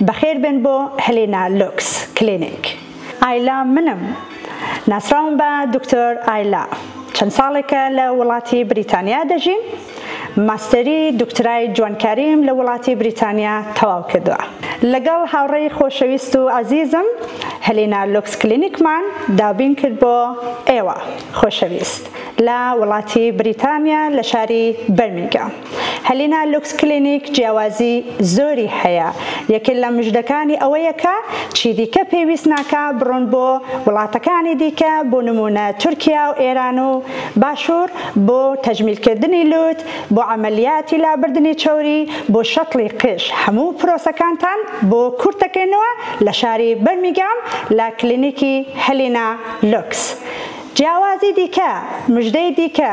بەخێربێن بۆ هلینا لوکس کلینیک. ئایلا منم. ناسراوم بە دکتۆر ئایلا. چەند ساڵێکە لە وڵاتی بریتانیا دەژیم. ماستەری دوکترای جوانکاریم لە وڵاتی بریتانیا تەواو کردووە. لەگەڵ هاوڕێی خۆشەویست و ئەزیزم هلینا لوکس کلینیکمان دابین کرد بۆ ئێوە خۆشەویست لە وڵاتی بریتانیا لە شاری بەرمینگام. هەلینا لوکس کلینیک جیاوازی زۆری هەیە یەکێ لە مژدەکانی ئەوەیە کە چیدیکە پێویست ناکا بڕۆن بۆ وڵاتەکانی دیکە بۆ نمونە تورکیا و ئێران و باشور بۆ تەجمیل کردنی لوت بۆ عەمەلیاتی لابردنی چەوری بۆ شەتڵی قژ هەموو پرۆسەکانتان بۆ کورت دەکەینەوە لە شاری بەرمیگام لە کلینیکی هەلینا لوکس جیاوازی دیکە مژدەی دیکە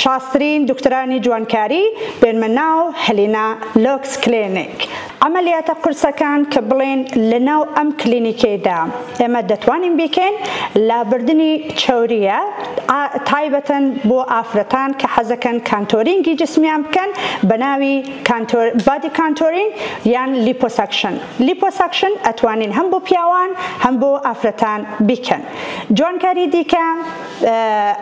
چاسترین دکتۆرانی جوانکاری بێنمە ناو هلینا لۆکس کلینیک عەمەلیاتە قورسەکان کە بڵێن لە ناو ئەم کلینیکەیدا ئێمە دەتوانین بیکەین لابردنی چەورییە تایبەتن بۆ ئافرەتان کە حەزەکەن کانتۆرینگی جسمیان بکەن بە ناوی بادی کانتۆرینگ یان لیپۆسەکشن لیپۆسەکشن ئەتوانین هەم بۆ پیاوان هەم بۆ ئافرەتان بیکەن جوانکاری دیکە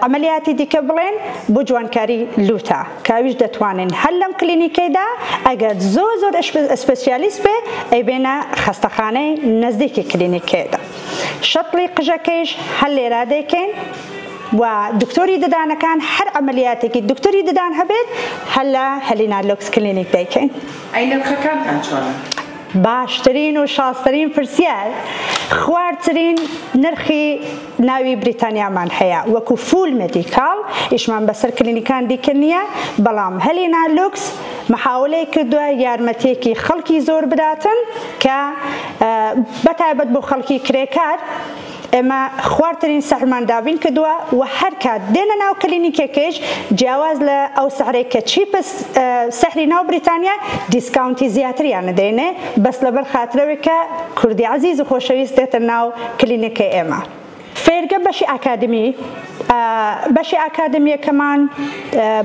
عەمەلیاتی دیکە بڵێن بۆ جوانکاری لووتە کە ئەویش دەتوانین هەر لەم کلینیکەیدا ئەگەر زۆر زۆر ئسپسیالیست بێ ئەیبێنە خەستەخانەی نەزدیکی کلینیکەیەدا شەتڵی قژەکەیش هەر لێرا دەیکەین و دکتۆری ددانەکان هەر عملیاتێکی دکتۆری ددان هەبێت هەر لە هەلینا لۆکس کلینیک دەیکەین ئەی نرخەکانتان چۆنە؟ باشترین و شازترین پرسیار خوارترین نرخی ناوی بریتانیامان هەیە وەکو فول مێدیکاڵ ئیشمان بەسەر کلینیکان دیکە نیە بەڵام هەلینا لوکس محاولەی کردوە یارمەتیەکی خەڵکی زۆر بداتن کە بە تایبەت بۆ خەڵکی کرێکار ئێمە خوارترین سەحرمان دابین کردوە و هەر کات دێنە ناو کلینیکێکیش جیاواز لە ئەو سەحرەی کە چیپس سەحری ناو بریتانیا دیسکاونتی زیاتریان دەینێ بەس لەبەر خاترەوەی کە کوردی عزیز و خۆشەویست دێتە ناو کلینیکی ئێمە فێرگە بەشی ئاکادمی ە بەشی ئاکادمیەکەمان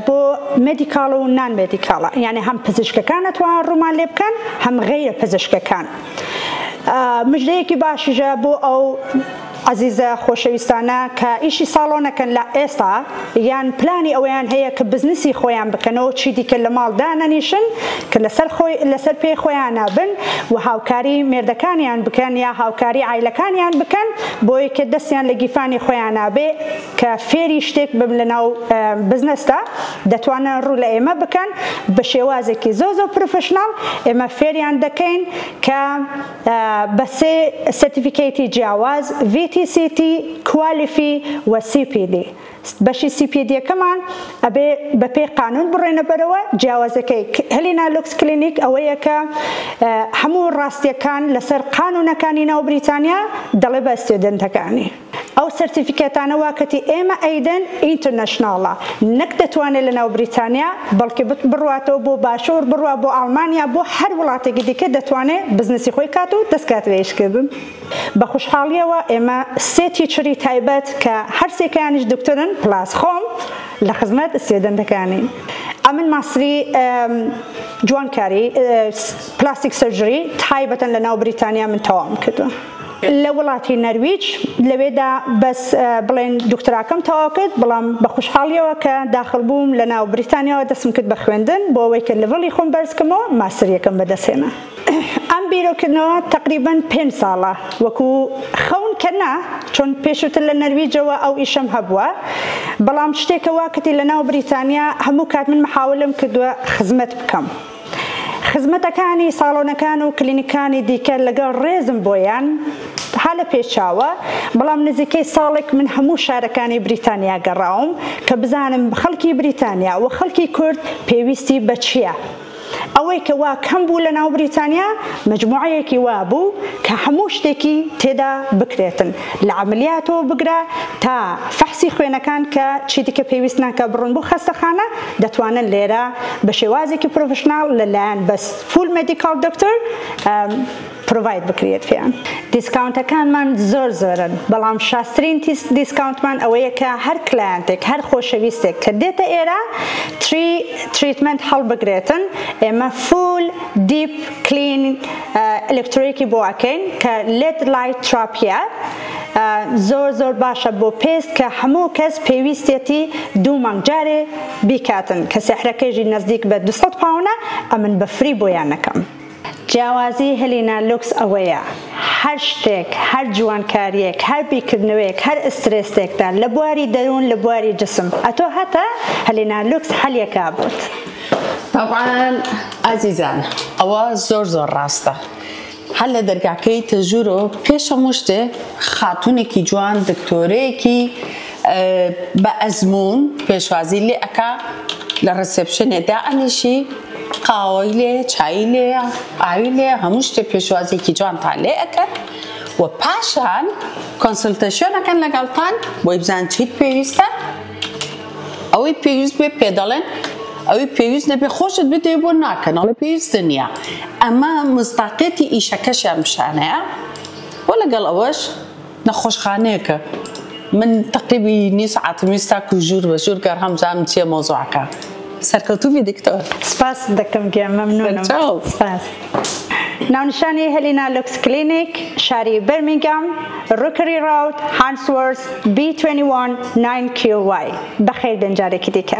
بۆ مێدیکاڵ و نان مێدیکاڵە یانێ هەم پزیشکەکان ئەتوان ڕوومان لێ بکەن هەم غەیرە پزیشکەکان مژدەیەکی باشیشە بۆ ئەو عەزیزە خۆشەویستانە کە ئیشی ساڵۆنەکەن لە ئێستا یان پلانی ئەوەیان هەیە کە بزنسی خۆیان بکەنەوەو چیدیکە لە ماڵ دانەنیشن کە لەسەر پێی خۆیانا بن و هاوکاری مێردەکانیان بکەن یا هاوکاری عایلەکانیان بکەن بۆی کە دەستیان لە گیرفانی خۆیانا بێ کە فێری شتێک بم لە ناو بزنسدا دەتوانن ڕوو لە ئێمە بکەن بە شێوازێکی زۆر زۆر پرفشناڵ ئێمە فێریان دەکەین کە بە سێ سەرتیفیکەیتی جیاواز، VTCT، کوالیفی و CPD. بەشی سیپیدیەکەمان ئەبێ بە پێی قانون بڕێنە بەرەوە جیاوازەکەی ک هلینا لوکس کلینیک ئەوەیە کە هەموو ڕاستیەکان لەسەر قانونەکانی ناو بریتانیا دەڵێ بە ستیودنتەکانی ئەو سەرتیفیکەتانە وا کەتی ئێمە ئەیدەن ئینترنەشناڵە نەک دەتوانێ لە ناو بریتانیا بەڵکێ بڕواتەوە بۆ باشوور بڕوا بۆ ئاڵمانیا بۆ هەر وڵاتێکی دیکە دەتوانێ بزنسی خۆی کات و دەسکات لە ئیش کردن. بە خوشحاڵیەوە ئێمە سێ تیچری تایبەت کە هەر سێکەیانیش دکتۆرن پلاس خۆم لە خزمەت ستێدەنتەکانین ئەمن ماستری جوانکاری پلاستیک سرجری تایبەتن لە ناو بریتانیا من تەواوم کردوە لە وڵاتی نەرویج لەوێدا بەس بڵێن دکتراکەم تەواو کرد بەڵام بە خوشحاڵیەوە کە داخل بووم لە ناو بریتانیاەوە دەسم کرد بە خوێندن بۆ ئەوەی کە لڤڵی خۆم بەرزکەمەوە ماسریەکەم بەدەسێنە ئەم بیرۆکردنەوە تەقریبەن پێنج ساڵە وەکو خەون کە نا، چۆن پێشوتر لە نەرویجەوە ئەو ئیشەم هەبووە، بەڵام شتێکە وا کەتی لە ناو بریتانیا هەموو کات من محاولەم کردووە خزمەت بکەم. خزمەتەکانی ساڵۆنەکان و کلینیکانی دیکە لەگەڵ ڕێزم بۆیان ها لە پێچاوە، بەڵام نزیکەی ساڵێک من هەموو شارەکانی بریتانیا گەڕاوم کە بزانم خەڵکی بریتانیا و خەڵکی کورد پێویستی بە چییە. ئەوەی کە وا کەم بوو لە ناو بریتانیا مەجموعەیەکی وا بوو کە هەموو شتێکی تێدا بکرێتن لە عەملیاتەوە بگرە تا فەحسی خوێنەکان کە چیدیکە پێویست ناکا بڕۆن بۆ خەستەخانە دەتوانن لێرە بە شێوازێکی پرۆفشناڵ لە لایەن بەس فول مێدیکاڵ دۆکتەر پرۆڤاید بکریت پێیان. دیسکاونتەکانمان زۆر زۆرن بەڵام شازترین دیسکاونتمان ئەوەیە کە هەر کلایەنتێک هەر خۆشەویستێک کە دێتە ئێرە تری تریتمێنت هەڵبگرێتن ئێمە فول دیپ کلین ئەلکترۆیکی بۆ ئەکەین کە لێد لایت تراپیە زۆر زۆر باشە بۆ پێست کە هەموو کەس پێویستێتی دوو مانگ جارێ بیکاتن کە سێحرەکەیژی نزدیک بە 200 پاونە ئەمن بە فری بۆیان نەکەم جیاوازی هلینا لوکس ئەوەیە هەر شتێک، هەر جوانکاریەک، هەر بیرکردنەوەیەک، هەر ئسترێسێکتان لە بواری دەروون لە بواری جسم ئەتۆ هەتە هلینا لوکس حەلیەکا بۆت. تەبعەن ئازیزان ئەوە زۆر زۆر ڕاستە هەر لە دەرگاکەی تەژورۆ پێش هەموو شتێ خاتونێکی جوان دکتۆرەیەکی بە ئەزموون پێشوازی لێ ئەکا لە ڕسێپشنێ دائەنیشی قاوەی لێ چایی لێ ئاوی لێ هەموو شتێ پێشوازێکی جوانتان لێ ئەکەن و پاشان کۆنسلتەشۆنەکەن لەگەڵتان بۆی بزان چیت پێویستە ئەوەی پێویست بێ پێ دەڵێن ئەوەی پێویست نەبێ خۆشت بدێ بۆ ناکەن ئەڵە پێویست نییە ئەمە مستاقێتی ئیشەکەشیان پیشانەیە بۆ لەگەڵ ئەوەش نەخۆشخانەیەکە من تەقیبی نیو سەعاتم ویست تاکو ژوور بە ژوور گەڕام بزانم چیە مەوزوعەکە سەرکەوتوبی دکتۆر. سپاست دەکەم گیان مەمنونم سپاس. ناونیشانی، هێلینا لوکس کلینیک، شاری بەرمینگام، ڕوکری ڕاوت، هانسوۆرس، بی توێنی وان، ناین کیو وای. بەخێربێن جارێکی دیکە.